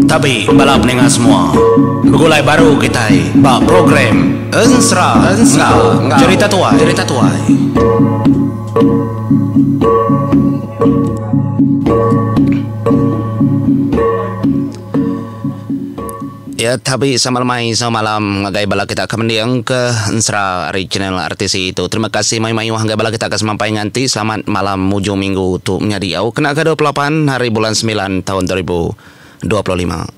Tabi bala peninga semua, begulai baru kitai ba program Ensera enggau Cherita Tuai. Iya tabi sama lemai sama malam ngagai bala kita ke mending ke ensera ari channel RTC tu. Terima kasih mayuh-mayuh ngagai bala kita ke semampai nganti selamat malam mujung minggu tu menyadi au kena ke dua puluh lapan hari bulan semilan taun dua ribu dua puluh lima.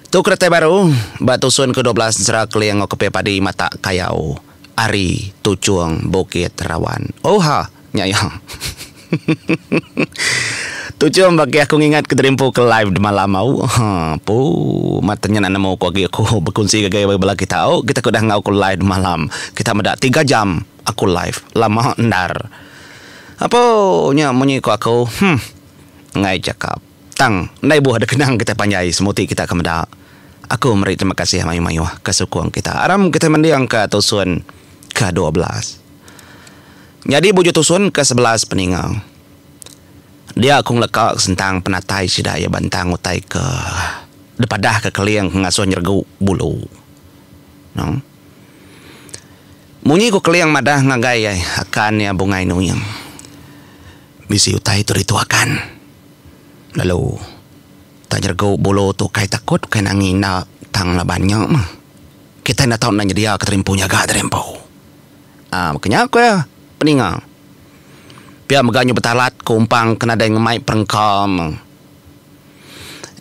Tu keretai baru ba tusun ke dua belas ensera keling Okopir Padi Matak Kayau. Ari tuchung bukit rawan. Oh ha. Nya iya. Tuchung bagi aku ngingat ke derimpu ke live demalam au. Ha. Pu. Mat tanya nak nemu ko agi aku bekunsi ngagai bagi bala kita au. Kita ko dah enggau ko live demalam. Kita meda tiga jam aku live. Lama endar. Apu. Nya munyi ko aku. Humph. Enggai cakap. Tang, enda ibuh ada kenang kitai panjai semua ti kita ke meda. Aku meri terima kasih mayuh-mayuh ke sukung kita aram kitai mendingka tusun ke dua belas. Nyadi bujur tusun ke sebelas peninga. Dia aku ngeleka ke sentang penatai sida iya bantang utai ke dipadahka Keling ke ngasuh nyeregu bulu. Nang. Munyi ku Keling madah ngagai akan iya bungai nuing. Bisi utai tu dituakan. Lalu tang nyeregu bulu tu ukai takut ukai nangi enda tang laban nya mah. Kitai enda tau enda nyediaka tadi empu nyaga tadi empu. Aa baka nya ku iya peninga. Pia mega nyu betalat ku umpang ke nadai ngemai perengka meh.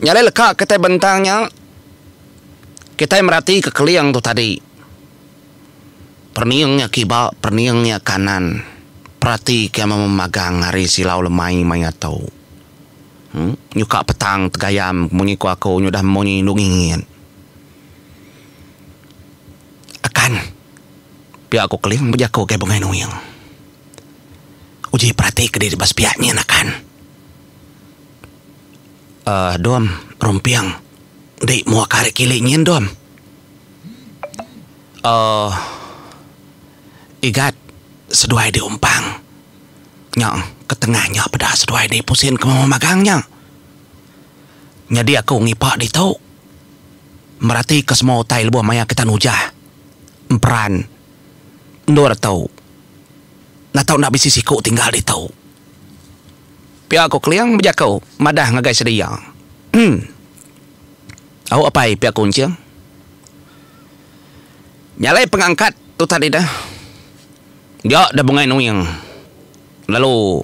Nya alai leka kitai bentang nya kitai meratika keling tu tadi. Perning nya kiba, perning nya kanan. Perati ke meh memagang ari silau lemai maya tu. Em. Nyuka petang tegayam munyi ku aku nyudah munyi indu ngingit. Akan. Pia ku Keling bejaku ngagai Bengai Nuing. Uji perati ke diri ba sepiak nyin akan. Aaa Dom, Rumping. Enti mua ke hari kili nyin Dom. Aaa igat seduai di umpang nya ketengah nya peda seduai di pusin ke mema magang nya. Nyadi aku ngipak ditu meratika semua utai lebuh maya kita nujah emperan endur tu enda tau enda bisi siku tinggal ditu. Pia ku Keling bejaku madah ngagai sedia. Em. Au apai pia ku Enching. Nyalai pengangkat tu tadi dah. Dia dah bungai nuing lalu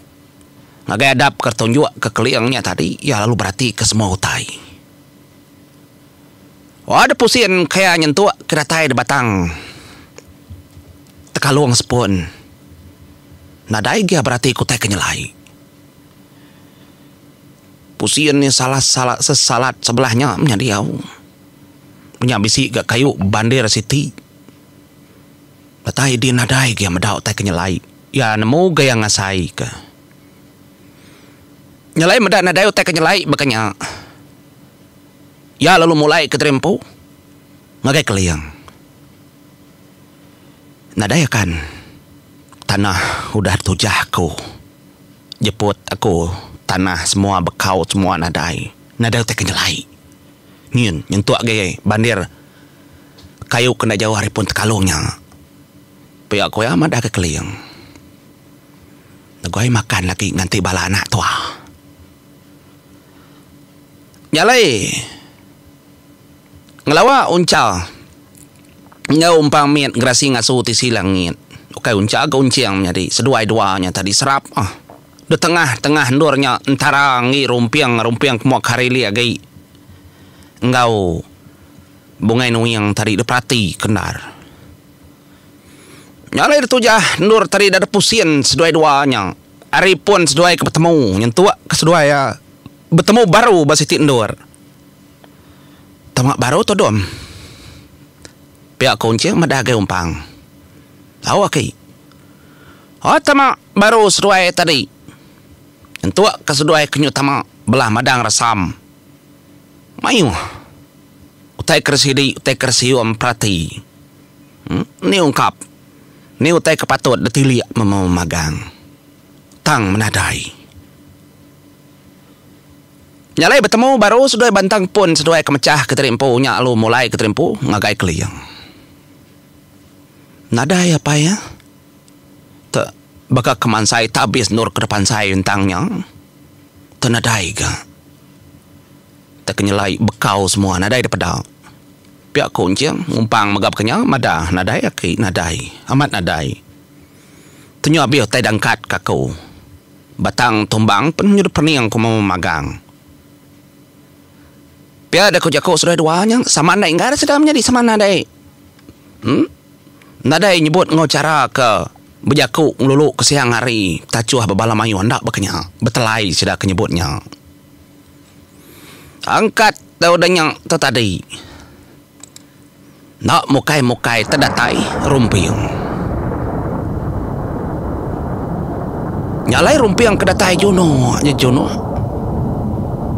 ngagai adap ke tunjuk ke Keling nya tadi iya lalu berati ke semua utai. Wa dep usin ke iya nyentuk ke datai di batang tekalung sepun. Nadai agi iya berati ke utai ke nyelai. Pusin nya salah salah sesalat sebelah nya menya diau. Menya bisi ga kayu bandir siti. Datai di nadai ga meda utai ke nyelai. Iya nemu ga iya ngasai ka. Nyelai meda nadai utai ke nyelai baka nya. Iya lalu mulai ke diri empu ngagai keling. Nadai akan tanah udah ditujah ku. jeput aku tanah semua bekau semua nadai nadai utai ke nyelai nyin nyentuk agi bandir kayu ke enda jauh ari pun tekalung nya pia ku iya madah ke keling negoi makan lagi nganti bala anak tua nyalai. Ngelawa uncha enggau umpang mit gerasi ngasu tisi langit ukai uncha ke unching menyadi seduai dua nya tadi serap ah. Detengah-tengah endur nya entara enggi rumping-rumping kemua karili agi enggau bungai nuing tadi diperati ke endar. Nya alai ditujah endur tadi enda dipusin seduai dua nya ari pun seduai ke betemu nyentuk ke seduai betemu baru ba siti endur. Tama baru tudum. Pia ku Encik meda agi umpang. Lauk aki. Oh tama baru seduai tadi. Nyentuk ke seduai kenyu tama belah madang resam. Mayuh. Utai ke sidi utai ke sium perati. Em ni ungkap. Ni utai ke patut ditilik memagang. Tang menadai. Nya alai betemu baru seduai bantang pun seduai ke mechah Kenteri Empu nya alu mulai Kenteri Empu ngagai Keling. Nadai apai iya te baka ke mansai tabis endor ke dep ansai entang nya te nadai ga te ke nyelai bekau semua nadai dipeda. Pia aku enching ngumpang mega baka nya madah nadai aki nadai amat nadai. Tu nya abih utai dangkat ka aku. Batang tumbang pen nyudup pening ku Mama Magang. Pia deh ku jaku seduai dua nya, sama andai enggai sida menyadi sama nadai em nadai nyebut enggau chara ke bejaku ngelulu ke siang hari betachuh ba bala mayuh enda baka nya betelai sida ke nyebut nya. Angkat dau deh nya tu tadi. Enda mukai mukai te datai rumping. Nya alai rumping ke datai juno je juno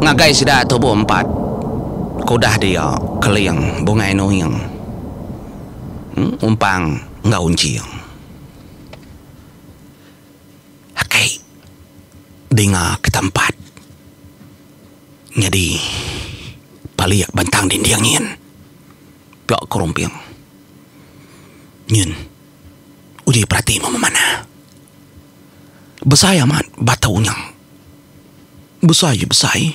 ngagai sida tubuh empat ke udah dia keling bungai nuing umpang enggau unching. Aki dinga ke tempat. Nyadi palik bentang dinding nyin pela ke rumping. Nyin uji perati meh memanah. Besai amat batau nya. Besai je besai.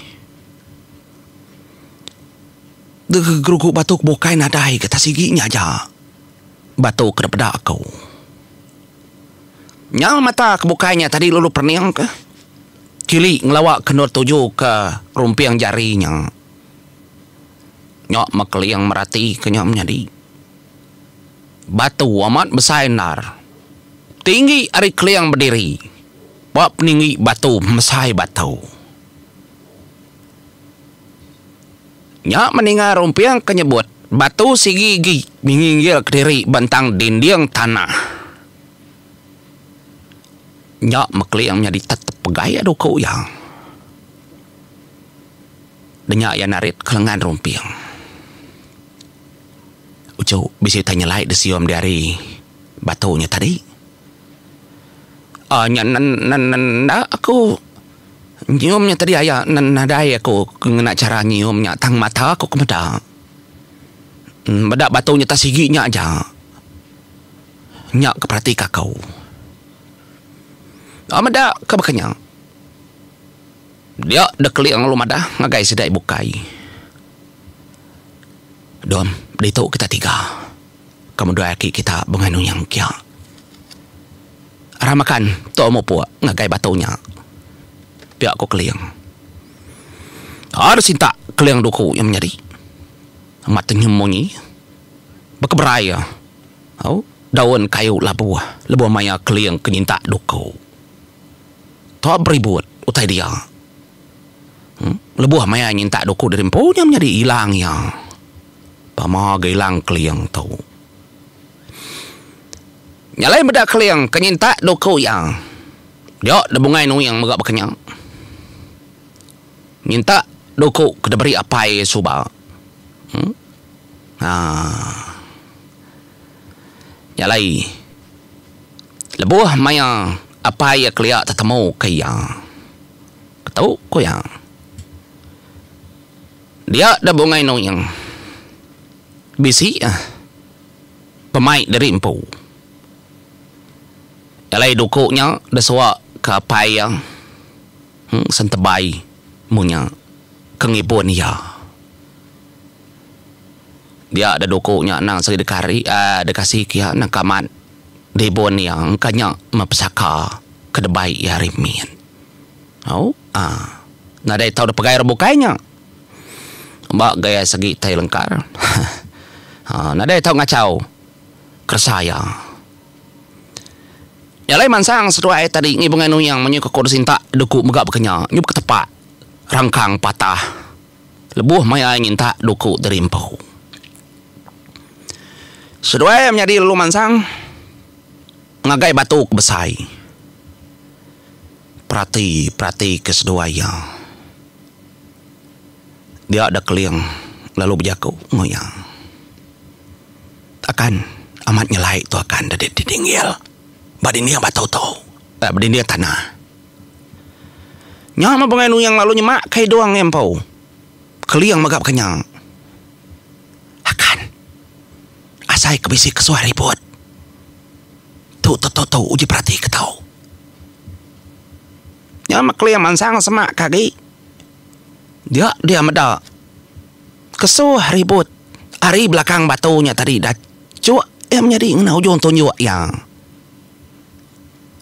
Deh gerugu batu ke bukai nadai getah sigi nya aja batu ke dipeda aku. Nyau mata ke bukai nya tadi lalu perening ke. Kili ngelawa kendur tuju ke rumping jari nya. Nya Mekeling merati ke nya menyadi. Batu amat besai endar. Tinggi ari Keling bediri. Ba peninggi batu mesai batu. Nya meninga rumping ke nyebut batu sigi agi minginggil kediri bentang dinding tanah. Nya Mekling nyadi tetep pegai adu ke uya. Denya iya narit ke lengan rumping. Uchu bisi utai nyelai disium diari batu nya tadi. Aaa nya nen nen nen enda aku nyium nya tadi aya nen nadai aku ngena chara nyium nya tang mata aku ke meda. Meda batu nya tan sigi nya aja. Nya ke perati ka ko. Ba meda ke baka nya. Dia de keling lalu madah ngagai sida e bukai. Dom ditu kita tiga. Ke mudoi aki kita bengah nunyang kia. Ra makan tu mupuk ngagai batu nya. Pia ko keling. Ka de sintak keling duku nya menyadi. Amat tenyu munyi. Bekeberai. Au, daun kayu labuh lebuh maya keling ke nyintak duku. Tua Beribut utai dia. Em, lebuh maya nyintak duku diri empu nya menyadi ilang iya. Pama ga ilang keling tu. Nya alai meda keling ke nyintak duku iya. Dia da bungai nuing mega baka nya. Nyintak duku ke diberi apai suba. Em. Haa. Nya alai. Lebuh maya apai iya kelia tetemuka iya. Ketu ku iya. Dia da bungai nuing. Bisi ah pemai diri empu. Nya alai duku nya da suwa ke apai iya sentebay munyi ke ngibun iya. Dia da duku nya nang seri dikari aaa dikasi kiha nangka amat dibun iya engka nya meh pesaka ke debai iya ari min. Au aaa nadai tau da pegai orang bukai nya ba gaya segi tai lengkar heh aaa nadai tau ngachau keresa iya. Nya alai mansang seduai tadi ngibu angai nuyang munyi ke ku disintak duku mega baka nya nyau baka tepak rangkang patah lebuh mai ai ngintak duku diri empu. Seduai menyadi lalu mansang ngagai batu ke besai. Perati perati ke seduai iya. Dia da keling lalu bejaku enggau iya. Akan amat nyelai tu akan dadi dinding ngil ba dinding batu tu. Ba dinding tanah. Nya meh bengai nuyang lalu nyemak ka idong ngai empu. Keling mega baka nya. Akan. Asai ke bisi kesuai ribut. Tu te tu tu uji perati ke tau. Nya meh keling mansang semak ka agi. Dia dia meda. Kesuh ribut ari belakang batu nya tadi da cuk iya menyadi ngena ujung tunjuk iya.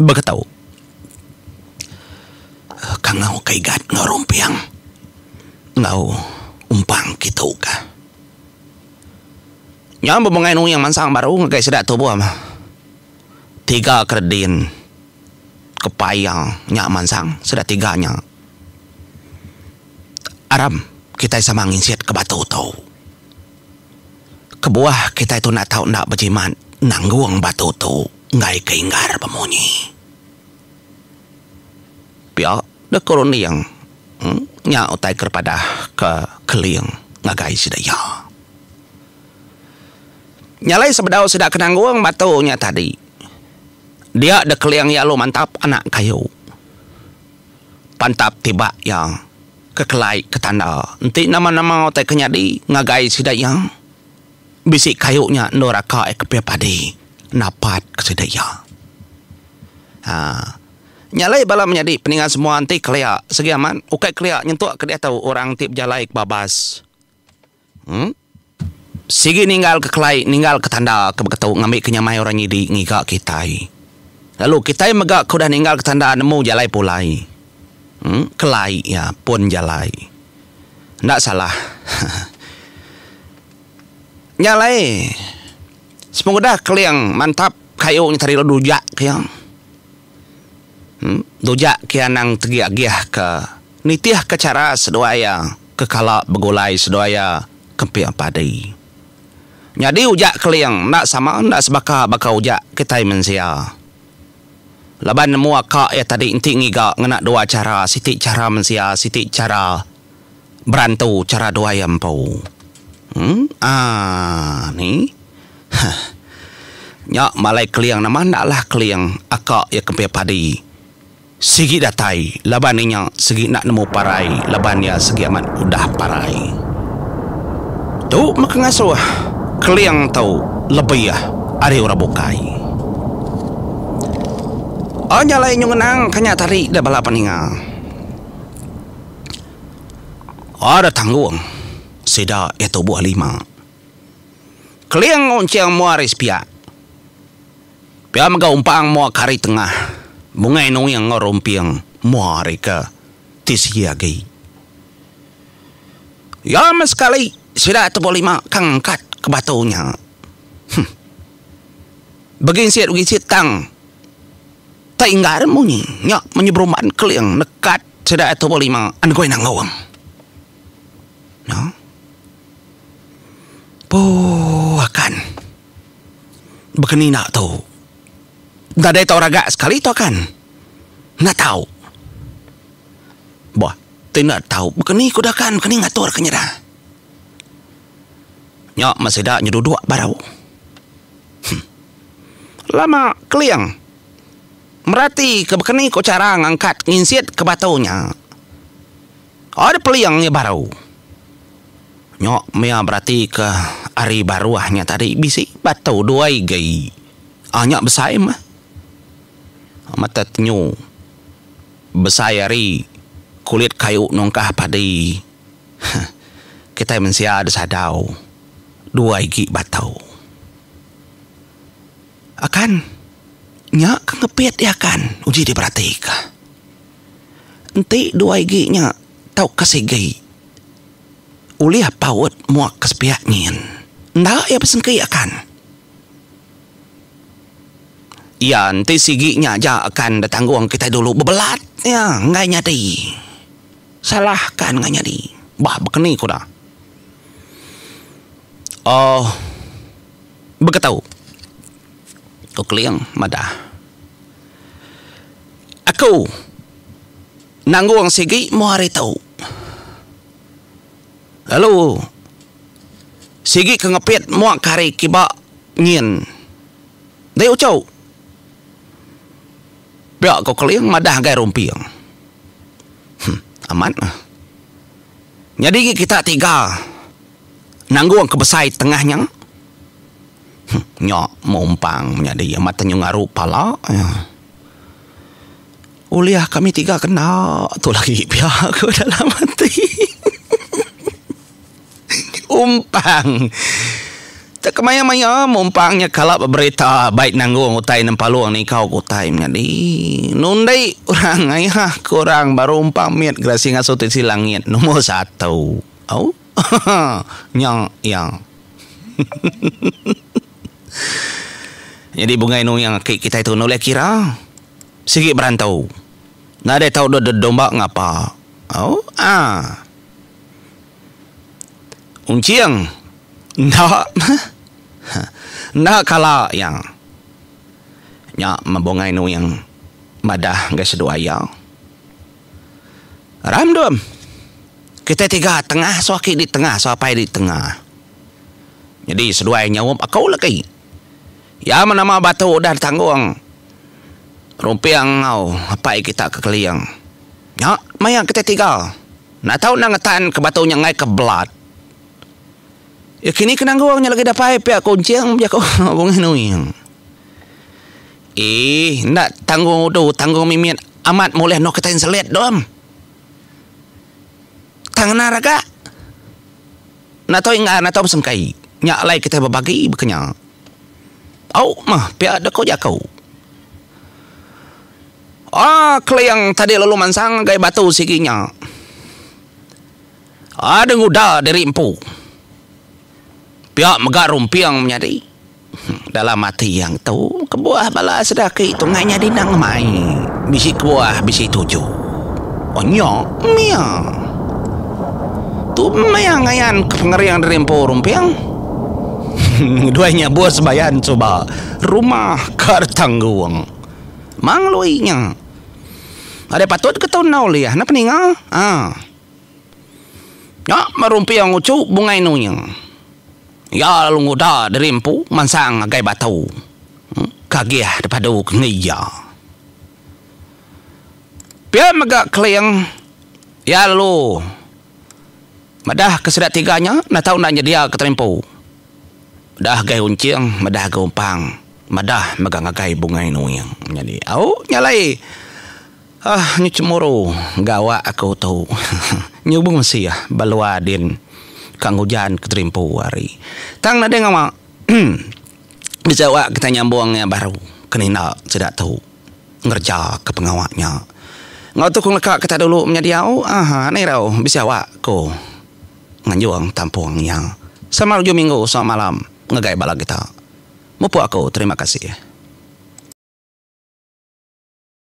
Baka tau. Kangau ka igat enggau rumping enggau umpang kitu ka. Nya bebengai nuing mansang baru ngagai sida tubuh meh. Tiga kera din kepai iya nya mansang sida tiga nya aram kitai sama nginsit ka batu tu. Kebuah kitai tu enda tau enda bejimat nanggung batu tu. enggai ke inggar bemunyi. Pia deh ke runding nya utai ke dipadah ke Keling ngagai sida iya. Nya alai sebedau sida ke nanggung batu nya tadi. Dia deh Keling iya alu mantap anak kayu. Pantap tibak iya ke kelai ke tanda enti nama-nama utai ke nyadi ngagai sida iya. Bisi kayu nya endur aka iya kepih padi napat ke sida iya. Haa. Nya alai bala menyadi peninga semua enti kelia segi amat ukai kelia nyentuk ke diatu orang ti bejalai ke babas. Emm. Sigi ninggal ke kelai ninggal ke tanda ke beketu ngambi ke nyamai orang nyidi ngiga kitai. Lalu kitai mega ke udah ninggal ke tanda nemu jalai pulai. Kelai iya pun jalai. Enda salah. Nya alai sepengudah Keling mantap kayu nya tadi lalu dujak ke iya. Dujak ke iya anang tegi agihka nitihka chara seduai iya kekala begulai seduai iya kemping padi. Nyadi ujak Keling enda sama enda sebaka baka ujak kitai mensia. Laban nemu aka iya tadi enti ngiga ngena dua chara siti chara mensia siti chara berantu chara dua iya empu. Aa ni. Huh. Nya malai keling nama enda lah keling aka iya kempih padi sigi datai laban inya sigi enda nemu parai laban iya sigi amat udah parai. Tu mega ngasuh keling tu lebih ari orang bukai. Oh nya alai nyu ngenang ka nya tadi da bala peninga. Oh da tanggung sida iya tubuh lima. Keling nguncing mua ari sepiak. Pia mega umpang mua ka ari tengah. Bungai nuing enggau rumping mua ari ke ti sigi agi. Iya meh sekali sida tubuh lima ka ngangkat ke batu nya. Huh. Beginsit beginsit tang teinggar munyi nya munyi berumban keling nekat sida atu berlima enggui nanggung. No. Puu akan bekenina tu. Nadai tau raga sekali tu akan. Enda tau. Bah, ti enda tau bekeni ku da kan bekeni ngatur ke nyida. Nya meh sida nyeduduk baru. Huh. Lama Keling meratika bekeni ko chara ngangkat nginsit ke batu nya. Ada peling iya baru. Nya meh iya beratika ari baruh nya tadi bisi batu dua igi. Aa nya besai meh. Mete tenyu besai ari kulit kayu nungkah padi. Hah. Kitai mensia da sadau dua igi batau. Akan. Nya ke ngepit dia akan uji diperatika. Enti dua igi nya tauka sigi ulih paut muak ke sepiak nyin. Enda iya besengki akan. Iya enti sigi nya aja akan da tanggung kitai dulu bebelat iya enggai nyadi. Salahka nengah nyadi. Bah bekeni ku da. Oh. Baka tau. Ko Keling madah. Aku. Nanggung sigi moh hari tu. Lalu. Sigi ke ngepit moh ke hari kiba nyin. Dai uchu. Pia ko Keling madah gai Rumping. Huh amat meh. Nyadi gi kita tiga nanggung ke besai tengah nya. Huh nya meh umpang menyadi amat tenyu ngaru pala iya. Ulih kami tiga kena tu lagi pia ko dalam ati. Umpang. Tang kemaya-maya mun umpang nya kala beberita bai nanggung utai nempalung nikau ke utai menyadi. Nundi orang ngaiha ke orang baru umpang mit gerasi ngasuh tisi langit nombor satu. Au. nya iya. Nyadi bungai nuing aki kitai tu enda ulih kira. Sigi berantu. Nadai tau dua deda domba ngapa. Au. Ah. Unching, Enda meh. Enda kala iya. Nya meh Bungai Nuing madah ngagai seduai iya. Ramdum, Kitai tiga tengah sawa aki di tengah sawa apai di tengah. Nyadi seduai nyaup aku lagi. Iya meh nama batu udah ditanggung Rumping enggau apai kita ke Keling. Nya maya kitai tiga. Enda tau endang ngetan ke batu nya enggai ke belat. Iya kini ke nanggung nya lagi dapai pia ke unching bejaku Bungih Nuing. Eeh enda tanggung udu tanggung mimit amat moleh noh kitai enselit dom. Tang ngena raga. Enda tau inggar enda tau besengkei. Nya alai kitai bebagi bekenya. Au meh pia deka jaku. Aa Keling tadi lalu mansang ngagai batu sigi nya. Aa deh nguda diri empu. Pia mega rumping menyadi. Dalam ati iya ngetu, kebuah bala sida aki tungai nyadi endang ngemai. Bisi kebuah bisi tuju. Oh nya mia. Tu mia ngayan ke pengering diri empu rumping. Ngeduai nya bus bayan suba. Rumah ka retanggung. Mang Lui nya. Nadai patut ke tau endaw liah neh peninga. Ha. Nya baru empiang uchu Bungai Nu nya. Iya lalu nguda diri empu mansang ngagai batu. Kagih dipadu ke enggai iya. Pia mega Keling iya lalu Madah ke sida tiga nya enda tau enda nyedia ke terimpu. Udah gai uncing madah ga umpang madah mega ngagai bungai nuing nyadi au nya alai uhh nyu cemburu ga awak aku tu nyubung sih ba lua din ka ngujan ke terimpu ari tang nadai ngawa. Bejawa kitai nyambung iya baru ke ninda sida tu ngereja ke pengawa nya. Enggau tu ku ngeleka kitai dulu menya diau ahaa enda irau bisi awak ku nganjung tampung iya. Selamat ujung minggu selamat malam ngagai bala kita. Mupuk aku terima kasih.